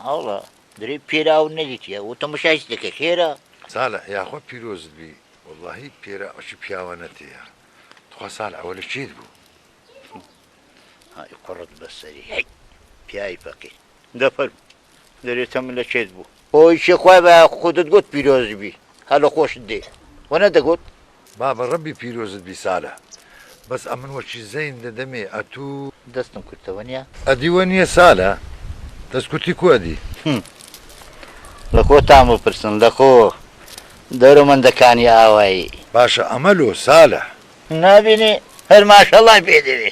ئاڵە درێ پێراو نەدیتە و تەمەشایست دەکە خێرە سالە یاخوا پیرۆزت بی واللهی پێرا ئەشی پیاوە نەتەیە تخوا سال ئەوە لە چیت بوو های قڕت بەسەری هەی پیاوی فەقیر دەفەرم دەرێ تەم لە کێت بوو ئۆی چێ خوای بە خۆدت گوت پیرۆز بی هە لە خۆشت دێ وە نە دەگوت. بابە ڕەبی پیرۆزت بی سالە. بەس ئەمن وەکی زەین دەدەمێ ئەتوو. دەستم کورتە وەنیە. ئەدی وە نیە سالە دەست کورتی کو ئەدی. هم لە خۆتان بپرسن لە خۆ دەورە مەندە کانی ئاوایی. باشە ئەمە لۆ سالە. نابینی هەر ماشەڵای پێ دەوێ.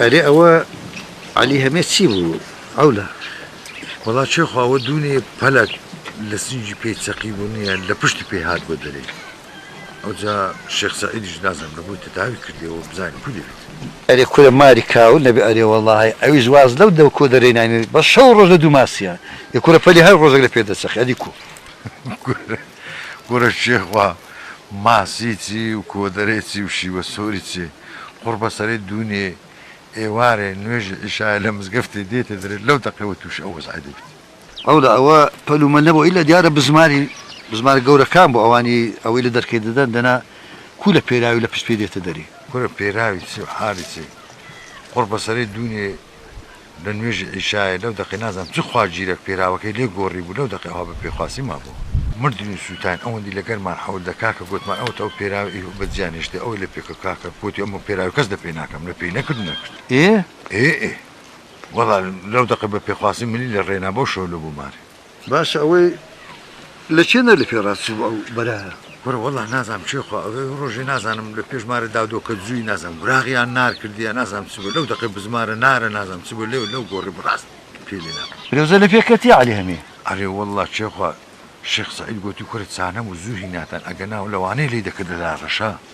ئەرێ ئەوە علی هەمێ چی بوو ئەو لە وڵات چێخواوە دوونێ پەلک لە سنجی پێی چەقی بوونیان لە پشتی پێ هات بۆ دەرێ ئەوجا شێخ سەعیدیش نازانم لەبۆی تەداوی کردیەوە بزانین کو دەوێت. ئەرێ کورە ماری کاول نەبێ ئەرێ وەڵاهی ئەویش واز لەو دەو کۆدەرەی ناینێ بەس شەو و ڕۆژ لە دوو ماسیە ئێ کورە پەلی هەر ڕۆژێک لە پێ دەچەخێ ئەدی کو. کورە شێخ وا ماسی چی و کۆدەرەی چی و شیوە سۆری چی قوڕبەسەرەی دوونێ ئێوارێ نوێژی عیشایە لە مزگەفتێ دێتە درێ لەو دەقەوە تووشی ئەو وەزعە دەبیت. ئەولا ئەوە پەل و مەل نەبوو ئیلا دیارە بزماری بزمارە گەورەکان بوو ئەوانی ئەوەی لە دەرکەی دەدەن دەنا کو لە پێراوی لە پشت پێی دێتە دەرێ. کورە پێراوی چی و حالی چی قوڕ بەسەرێ دوونێ لە نوێژی عیشایە لەو دەقەی نازانم چ خوا ژیرەک پێراوەکەی لێ گۆڕی بوو لەو دەقەی ئەوها بە پێخواسی مابوو مردین و سووتاین ئەوەندی لە گەرمان حەول دە کاکە گۆتمان ئەوەت ئەو پێراوە ئی و بەجیا نێشتێ ئەوەی لە پێکە کاکە گۆتی ئەمە پێراوی کەس لە پێ ناکەم لە پێی نەکرد و نەکرد. ئێ ئێ ئێ. وەڵا لەو دەقە بە پێخواستی ملی لە ڕێنا بەو شەو لە بوو مار. باشە ئەوەی لە کێ نەر لە پێ ڕاست چوو ئەو بەرایە. کورە وەڵا نازانم چێ خوا ئەوێ ڕۆژێ نازانم لە پێش مارە دادۆ کە جووی نازانم وراغ یان نار کردیە نازانم چ بوو لەو دەقەی بزمارە نارە نازانم چ بوو لێو لەو گۆڕی بڕاست پێی لێ ناکەم. فرێوزە لە پێ کەتی عەلی هەمێ. ئەرێ وەڵا چێ خوا شێخ سەعید گۆتی کورە چانە و زوو هیناتان ئەگەنا لەوانەیە لێی دەکردە دارەشە.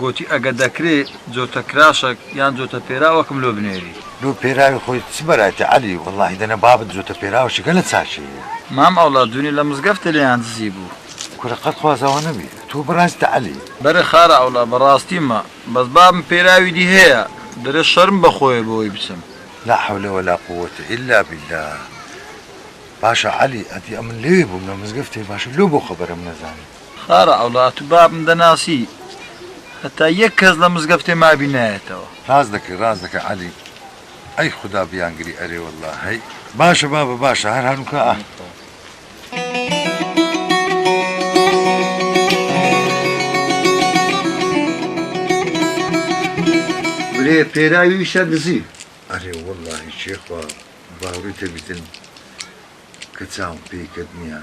گۆتی، ئەگە دەکرێ جۆتە کراشەک یان جۆتە پێراوەکم لۆ بنێری. لۆ پێراوی خۆی چ بەرایتە عەلی، وەڵاهی دەنا بابت جۆتە پێراوەشیکە لە چاکێیە. مام ئەوڵاد دونێ لە مزگەفتە لێیان دزی بوو. کورە قەت خوازاوا نەبی تۆ بەراستە عەلی. بەرێ خارە ئەوڵا بەڕاستیمە بەس بابم پێراوی دی هەیە دەرێ شەرم بە خۆیە بەوەی بچم. لا حول ولا قووەتە الا باللە باشە عەلی ئەدی ئەمن لەوێ بووم لە مزگەفتێ باشە لۆ بۆ خەبەرم نەزانی. خارە عەوڵا تو بابم دەناسی هەتا یەک کەس لە مزگەفتێ مابی نایەتەوە. راست دەکەی راست دەکەی عەلی. ئەی خودا بیانگری ئەرێ واللە هەی باشە بابە باشە هەر هەنووکە ئاه. برێ پێراوی ویشە دزی. ئەرێ وەڵاهی شێخوا باوڕی تەبیتن کە چاوم پێی کەت نیە.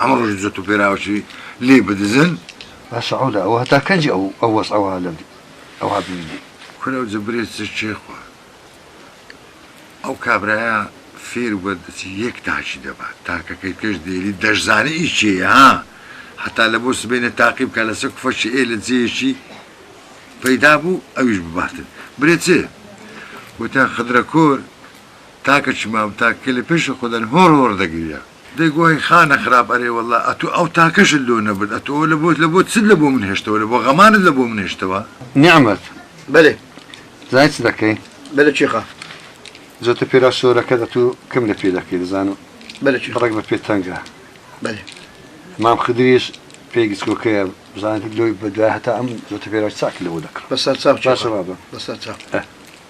هەموو ڕۆژی جوت و پێراوکی لێی بدزن. باشە عەولا ئەوە هەتا کەنجی ئەو ئەو وەزعەوە لە ئەوها بمینێ. کورە ئەو جبرێ چ کێ خوا ئەو کابرایە فێر بە دەچی یەک تاکی دەبا تاکەکەی کەش دێری دەشزانێ ئی کێیە ها هەتا لە بۆ سبەینێ تاقی بکا لە چ کفەکی ئێ لە جێیەکی پەیدا بوو ئەویش بباتن برێ چ وتیان خدرە کۆر تاکەکی مابوو تاکەکەی لە پێشی خۆ دانی هۆڕ هۆڕ دەگریا. دەی گوای خانە خراپ ئەرێ واللە ئەتوو ئەو تاکەشت لۆ نەبرد ئەتوو ئەو لەبۆت لەبۆت چت لەبۆ من هێشتەوە لەبۆ غەمانت لەبۆ من هێشتەوە. نیعمەت بەلێ زانی چ دەکەی. بەلێ چیخە. جۆتە پێرا شۆرەکەت ئەتوو کەم لە پێ دەکەی دەزانم بەلێ چیخە بڕێک بە پێ تەنگە. بەلێ. مام خدریش پێی گچکۆکەیە بزانێت لۆی بە دوای هەتا ئەم جۆتە پێرا چاک لەبۆ دەکڕم. بەسەر چاو چیخە. باشە بابە. بەسەر چاو. ئە.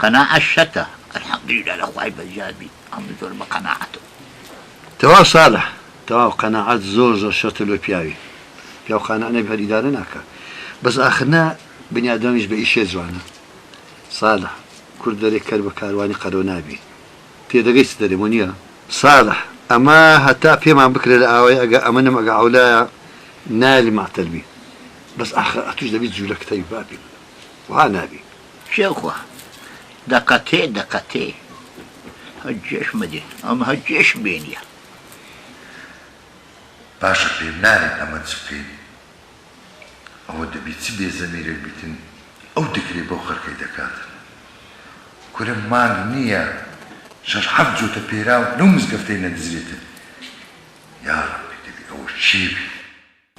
قەناعەت شەتە الحمدللە لە خوای بەزیاد بیت ئەمن زۆر بە قەناعەتم. تەواو سالح تەواو قەناعەت زۆر زۆر شەرتە لۆ پیاوی پیاو قانع نەبی هەر ئیدارە ناکا بەس ئاخر نا بنی ئادەمیش بە ئیشێ جوانە سالح کورد دەرێ کەر بە کاروانی قەرەو نابی تێدەگەی چ دەرێ وەنیە سالح ئەمە هەتا پێمان بکرێ لە ئاوای ئەگا ئەمنم ئەگا عەولایە نایەلی مەعتەل بی بەس ئاخر ئەتوش دەبی جولەکتەوی بابی من وەها نابی کێ خوا دەقەتێ دەقەتێ. هەجێش مەدێ ئەم هەجێش بێنیە. باشە پێم نالێن ئەمە چ بکەین ئەوە دەبی چ بێ زەمیرێک بیتن ئەو دکرەی بەو خەرکەی دەکاتن کورە مانگ نیە شەش حەفت جۆتە پێراو لەو مزگەفتەی نەدزرێتن یاڕەبی دەبی ئەوە چێ بی.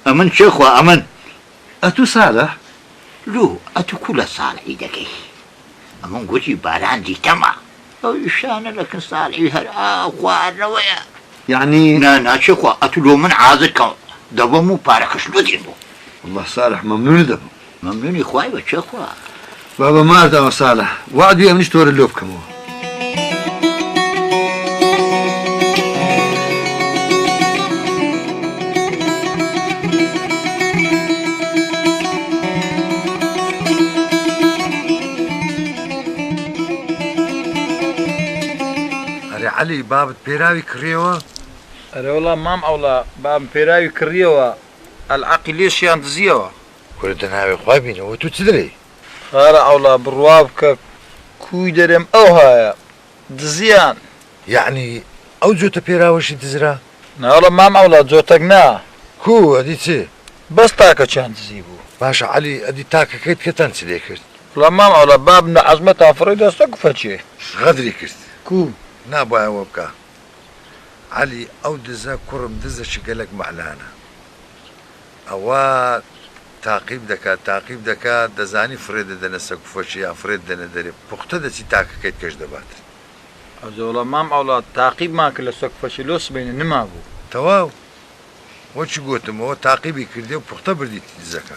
ئەمن کێ خوا ئەمن؟ ئەتوو سالح؟ لۆ ئەتوو کوو لە سالحی دەکەی؟ ئەمن گوتی باران دیتەمە. ئەو ئیشانە لەکن سالحی هەر ئاو خواردنەوەیە. یەعنی؟ نا نا کێ خوا ئەتوو لۆ من عازر کەم دەبەم و پارەکەش لۆ دێنمەوە. وەڵا سالح مەمنوونت دەبم. مەمنونی خوای بە کێ خوا. بابە مار داوە سالە وەعد بێ منیش تۆرە لۆ بکەمەوە. عەلی بابت پێراوی کڕیەوە؟ ئەرێ وەڵا مام عەوڵا بابم پێراوی کڕیەوە، ئەلعەقی لێشیان دزیەوە. کورە دە ناوی خوا بینە وە تو چ دەلی. خارە عەوڵا بڕوا بکە کوی دەرێم ئەوهایە دزیان. یەعنی ئەو جۆتە پێراوەشی دزرا؟ ناڵە مام عەوڵا جۆتەک نا. کو ئەدی چ؟ بەس تاکەکیان دزی بو. باشە عەلی ئەدی تاکەکەی تکەتان چ لێ کرد؟ وڵا مام عەوڵا باب نە عەزمەتان فڕی دا سەگ فەچێ. غەدری کرد کو نابوایە وە بکا. عەلی ئەو دزە کوڕم دزە چ گەلەک مەعلانە ئەوا تاقیم دەکات تاقیم دەکات دەزانی فڕێ دەدەنە سەکوفەچێ یان فڕێت دەنە دەرێ پوختە دەچی تاکەکەیت کەش دەبات. ئەزۆڵە مام ئەوڵاد تاقیبمان کرد لە سەکوفەچێ لۆ سبەینێ نمابوو. تەواو وەک گۆتم ئەوە تاقیبی کردی و پوختە بردیتی دزەکە.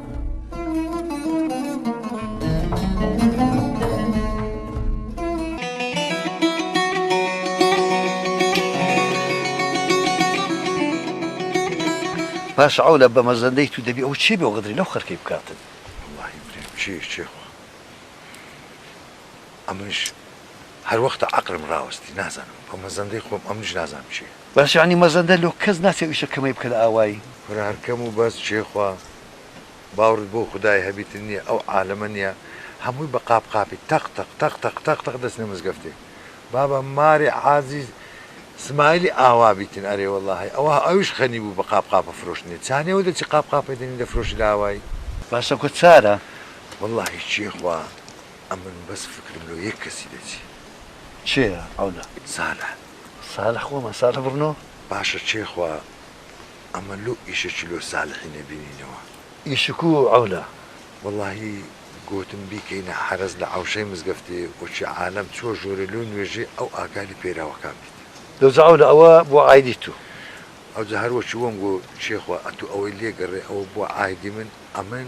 باشە ئەو لە بەمەزەندەی تو دەبی ئەو چی بێ غدری لەو خەرکەی بکاتن واللهی بریم چی چی خوا ئەمنش هەر وەختە عەقلم ڕاوەستی نازانم بەمەزەندەی خۆم ئەمنش نازانم چیە. بەس یەعنی مەزەندە لۆ کەس ناچێ ئیشە کەمەی بکە لە ئاوایی. کورە هەر کەم و بەس چێ خوا باوڕت بۆ خودای هەبیتن نیە ئەو عالەمە نیە هەمووی بە قاپ قاپی تەق تەق تەق تەق تەق تەق دەچنە مزگەفتێ بابە مارێ عازی سمایلی ئاوا بیتن ئەرێ وەڵا هەی ئەوە ئەویش غەنی بوو بە قاپ قاپە فرۆشتنێ چانێ و دەچی قاپ قاپێ دەنی دەفرۆشی لە ئاوایی. باسە کۆ چارە. وەڵاهی چێ خوا ئەمن بەس فکرم لۆ یەک کەسی دەچی. چێە عەولە. سالح. سالح خۆمە سالح بڕنۆ. باشە چێ خوا ئەمە لۆ ئیشەکی لۆ سالحی نەبینینەوە. ئیشکو عەولە وەڵاهی گۆتم بیکەینە حەرەز لە عەوشەی مزگەفتێ وەکی عالەم چوە ژۆرێ لۆ نوێژێ ئەو ئاکاری پەیراوەکان بیت. لۆجە عەولە ئەوە بۆ عایدی تو. ئەوجە هەر وەکی وەم گۆ چێ خوا ئەتو ئەوەی لێ گەڕێ ئەوە بۆ عایدی من ئەمن.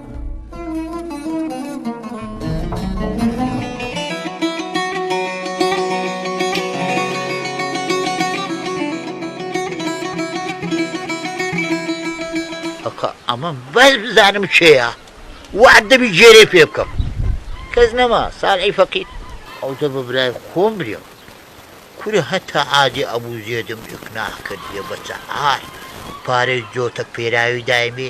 ئەمە بەس بزانم چێە وعد دەبی جێرێ پێ بکەم کەس نەما ساڵی فەقیت ئەو دە بە برای خۆم برێم کورە هەتا عادێ ئەبوو زێدم ئیقناع کردیە بە چەهار پارەی جۆتە پێراوی دایمێ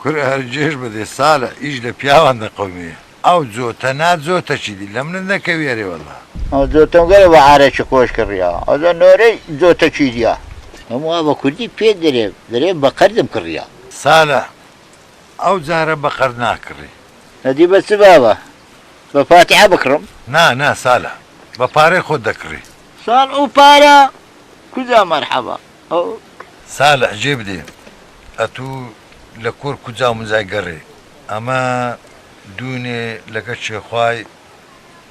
کورە هەر جێژ بەدێ سالە ئیش لە پیاوان دەقەومێ ئاو جۆتە نا جۆتە چی دی لە منت نەکەویە رێ وەلا. ئەو جۆتەم گەلە بە عارەکی خۆش کڕیا ئەزا نۆرەی جۆتە چی دیە. ئەم وا بە کوردی پێت دەرێ دەرێ بە قەردم کڕیا. سالە ئەو جارە بە قەرد ناکڕی. ئەدی بە چ بابە بە فاتیحە بکڕم. نا نا سالە بە پارەی خۆت دەکڕی. سال ئەو پارە کوجا مەرحەبا. سالح جێ بدێ ئەتو لە کۆر کوجا مجای گەڕێ ئەمە دوونێ لەگە چێ خوای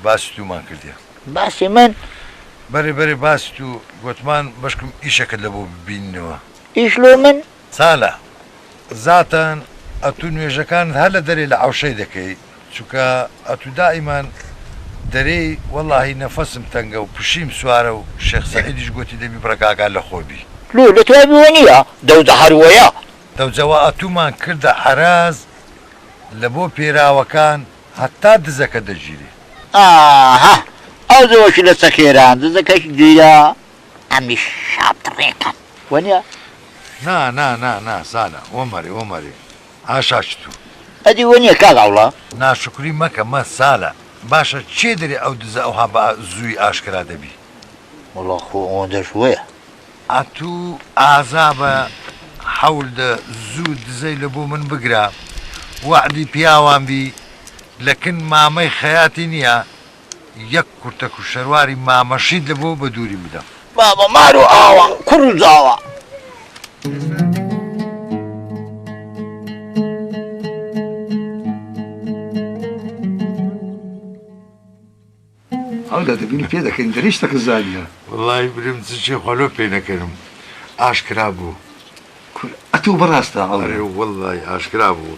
باسی تومان کردیە. باسی من؟ بەرێ بەرێ باسی تو گۆتمان بەشکم ئیشەکت لە بۆ ببینینەوە. ئیش لۆ من؟ سالح زاتەن ئەتو نوێژەکانت هەر لە دەرێ لە عەوشەی دەکەی. چونکە ئەتو دائیمان دەرێی وەڵاهی نەفەسم تەنگە و پشیم سوارە و شێخ سەعیدیش گۆتی دەبی بڕە کاکا لەخۆ بی. لۆ لە دوای بووە نیە دەوجە هەر وەیە. دەوجە وە ئەتومان کردە عەراز لە بۆ پێراوەکان هەتا دزەکە دەگیری. ئاها ئەو دەوەشی لە چەکێران دزەکەش گیرا ئەمیش شاپ دڕێکەم وە نیە. نا نا نا نا سالە وەمەرێ وەمەرێ ئاشا چ تو. ئەدی وەنیە کاک عەوڵا. ناشوکری مەکە مە سالە. باشە کێ دەرێ ئەو دزە ئەوها بئ زووی ئاشکرا دەبی. وەڵا خۆ ئەوەندەش وەیە. ئەتوو ئازا بە حەول دە زوو دزەی لە بۆ من بگرە وەعدی پیاوان بی لە کن مامەی خەیاتی نیە یەک کورتە کوشەرواری مامە شیت لە بۆ بە دووری بدەم. مامە مار و ئاوا کوڕ و زاوا. وەڵاهی بریم چ چێ خوا لۆ پێ نەکەنم ئاشکرا بوو ئەرێ وەڵاهی ئاشکرا بوو.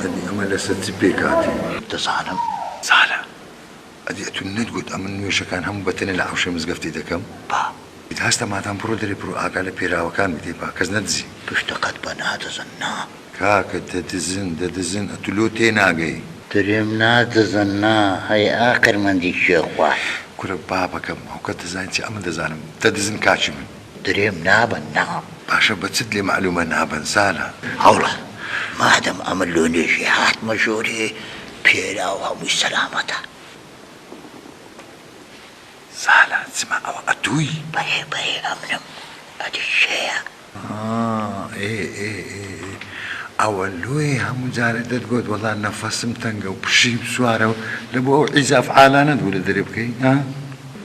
ئەدی ئەمە لەسەر چ پێکهاتەی؟ دەزانم زالە. ئەدی ئەتو نەتگوت ئەمن نوێژەکان هەموو بە تەنێ لە حەوشەی مزگەفتی دەکەم؟ با. ئیدی هەستە مادام بڕۆ دەرێ بڕۆ ئاگا لە پێراوەکان بدێ با کەس نەدزی. پشتەکەت بە نادزن نا. کاکە دەدزن دەدزن ئەتو لۆ تێناگەی. درێم نادزن نا هەی ئاقرمەندی کێ خوارد. کورە بابەکەم ئەوکەت دەزانی چی ئەمن دەزانم دەدزن کاکی من. درێم نابەن نا. باشە بە چت لێ مەعلومە نابەن زانا. هەوڵە مادەم ئەمن لۆ نوێژی هاتمە ژۆرێ پێلاو هەمووی سەلامەتە. زانا چما ئەوە ئەتووی. بەرێ بەرێ ئەمنم ئەدی کێیە. ئاا ئێ ئێ ئێ ئێ ئەوە لۆیە هەموو جارێ دەتگۆت وەڵا نەفەسم تەنگە و پشیم سوارە و لەبۆ ئەو عیزاف عالانەت بوو لە دەرێ بکەی ها.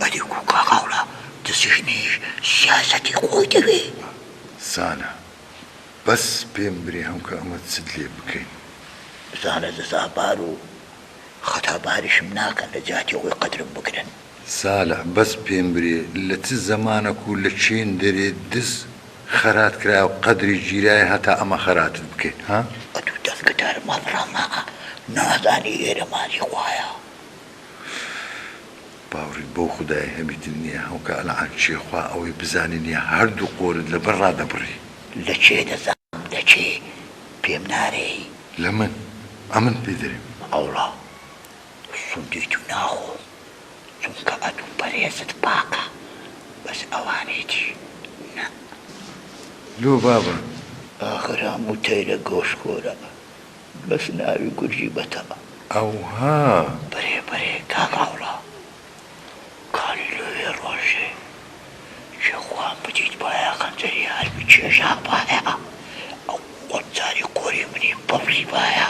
ئەدی کوو کاک هەوڵە دزێنیش سیاسەتی خۆی دەوێ. زانا، بەس پێم برێ هەمکە ئەمە چت لێ بکەین. زانا، جەزا بار و خەتا باریشم ناکەن لە جیاتی ئەوەی قەدرم بگرن. زالا، بەس پێم برێ لە چ زەمانەک و لە چێن دەرێ دز خەرات کرایە و قەدری گیرایە هەتا ئەمە خەراتت بکەین ها؟ ئەتوو دەنگت هەر مەبڕە ماعە نازانی ئێرە ماسی خوایە. باوڕیت بەو خودایە هەمی دل نیە هەو کە ئەلعان چیە خوا ئەوەی بزانی نیە هەر دوو قۆرت لە بەر ڕادەبڕی. لە کێ دەزانم دە کێ پێم نارێی. لە من ئەمن پێ دەرێم. ئەوڵا سوندی تو ناخۆم چونکە ئەتو پەرێزت پاکە بەس ئەوانەی دی نە. لۆ بابە. ئاخر هەموو تەیرە گۆشخۆرە. بەس ناوی گورجی بەتە ئەوها. بەرێ بەرێ کاک عەوڵا کانی لۆێ ڕۆژێ کێ خوان بدیت بایە خەنجەری هەر بکێشا بایە ئەو وەک جاری قۆری منی ببڕی بایە.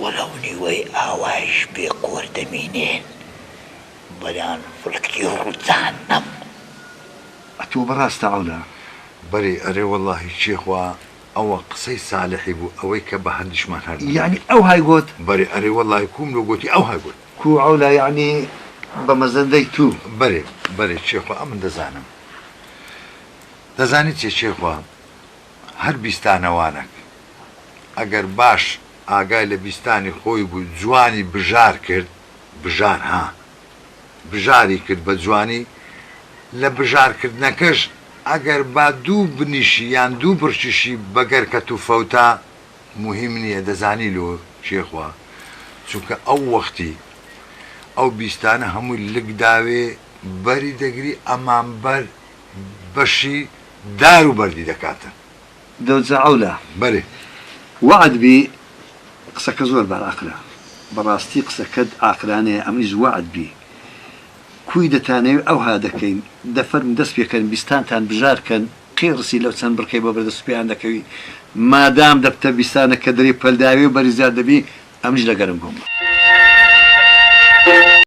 وەلەو نیوەی ئاوایش بێ قۆر دەمینێن بەلان فلکتی ڕوو جەهەنەم. ئەتۆ بەڕاستە عەولا؟ بەرێ ئەرێ وەڵاهی کێ خوا. ئەوە قسەی سالحی بوو ئەوەی کە بە هەندیشمان هەر نەبوو. یەعنی ئەوهای گۆت؟ بەرێ ئەرێ وەڵای کووم لۆ گۆتی ئەوهای گۆت. کوو عەولا یەعنی بە مەزەندەی توو. بەرێ بەرێ چێخوا ئەمن دەزانم. دەزانی چێ چێخوا هەر بیستانەوانەک ئەگەر باش ئاگای لە بیستانی خۆی بوو جوانی بژار کرد بژار ها. بژاری کرد بە جوانی، لە بژار کردنەکەش ئەگەر با دوو بنیشی یان دوو بڕکیشی بە گەرکەت و فەوتا موهیم نیە دەزانی لۆ کێ خوا چونکە ئەو وەختی ئەو بیستانە هەمووی لک داوێ بەری دەگری ئەمان بەر بەشی دار و بەردی دەکاتن. دەوجە عەولا بەرێ وەعد بی قسەکە زۆر بە ئاقلە بەڕاستی قسەکەت ئاقلانەیە ئەمنیش وەعد بی کوی دەتانەوی ئەوها دەکەین دە فەرمو دەست پێکەن بیستانتان بژار کەن قیڕسی لەو چەند بڕکەی بۆ بەردەست پێیان دەکەوی مادام دەبتە بیستانە کە دەری پەلداوێ و بەرزیار دەبی ئەمنیش لەگەرم بوم.